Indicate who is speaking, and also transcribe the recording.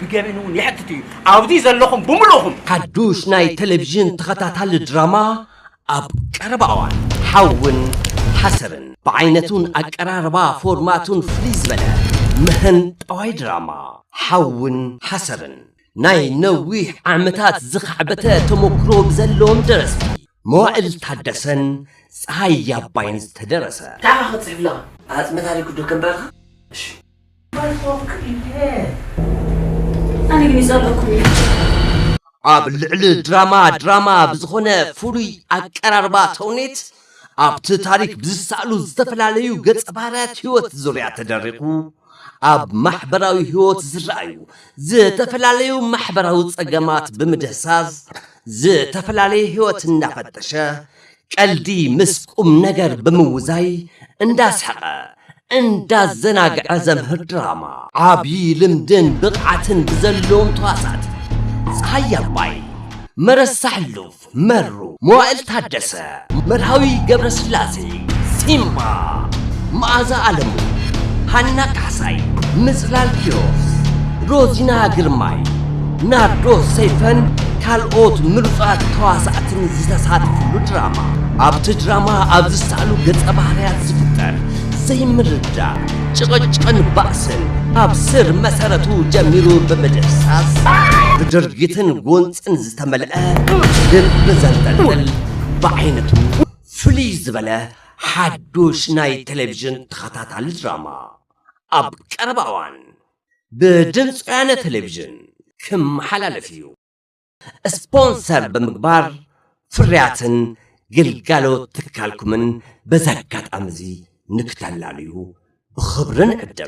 Speaker 1: ብገበን እውን የሕትት
Speaker 2: እዩ ኣብዚ ዘለኹም ብምሉእኹም ሓዱሽ ናይ
Speaker 3: ቴሌቭዥን ተኸታታሊ ድራማ ኣብ ቀረባ እዋን ሓውን ሓሰርን ብዓይነቱን ኣቀራርባ ፎርማቱን ፍልይ ዝበለ ምህን ጠዋይ ድራማ ሓውን ሓሰርን ናይ ነዊሕ ዓመታት ዝኸዕበተ ተሞክሮ ብዘለዎም ደረስቲ መዋእል ታደሰን ፀሃይ ያባይን ዝተደረሰ። ታይ ኢኻ ክትፅሕፍላ
Speaker 2: ኣፅመ ታሪኩ ዶ
Speaker 3: ከንብበልካ
Speaker 4: እሺ። ኣነ ግን ይጸልኣኩም እዩ።
Speaker 3: ኣብ ልዕሊ ድራማ ድራማ ብዝኾነ ፍሉይ ኣቀራርባ ተውኔት ኣብቲ ታሪክ ብዝሰኣሉ ዝተፈላለዩ ገፀ ባህርያት ህይወት ዙርያ ተደሪኹ ኣብ ማሕበራዊ ህይወት ዝረኣዩ ዝተፈላለዩ ማሕበራዊ ፀገማት ብምድህሳስ ዝተፈላለየ ህይወት እናፈተሸ ቀልዲ ምስ ቁምነገር ብምውዛይ እንዳስሓቐ እንዳዘናግዐ ዘምህር ድራማ። ዓብዪ ልምድን ብቕዓትን ብዘለዎም ተዋሳእቲ ፀሃየ ኣባይ፣ መረሳ ሕሉፍ፣ መሩ መዋእል ታደሰ፣ መርሃዊ ገብረስላሴ፣ ሲምባ፣ መኣዛ ኣለሙ፣ ሃና ካሕሳይ፣ ምፅላል ኪሮስ፣ ሮዚና ግርማይ፣ ናርዶስ ሰይፈን ካልኦት ምሩፃት ተዋሳእትን ዝተሳተፍሉ ድራማ። ኣብቲ ድራማ ኣብ ዝሰኣሉ ገፀ ባህርያት ዝፍጠር ዘይምርዳእ፣ ጭቕጭቕን ባእስን ካብ ስር መሰረቱ ጀሚሩ ብምድህሳስ ብድርጊትን ጎንፂ ጭንቅን ዝተመልአ ልቢ ዘንጠልጥል ብዓይነቱ ፍልይ ዝበለ ሓዱሽ ናይ ቴሌቭዥን ተኸታታሊ ድራማ ኣብ ቀረባ እዋን ብድምፂ ወያነ ቴሌቭዥን ክመሓላለፍ እዩ። ስፖንሰር ብምግባር ፍርያትን ግልጋሎት ትካልኩምን በዚ ኣጋጣሚ እዚ ንክተላልዩ ብኽብሪ ንዕድም።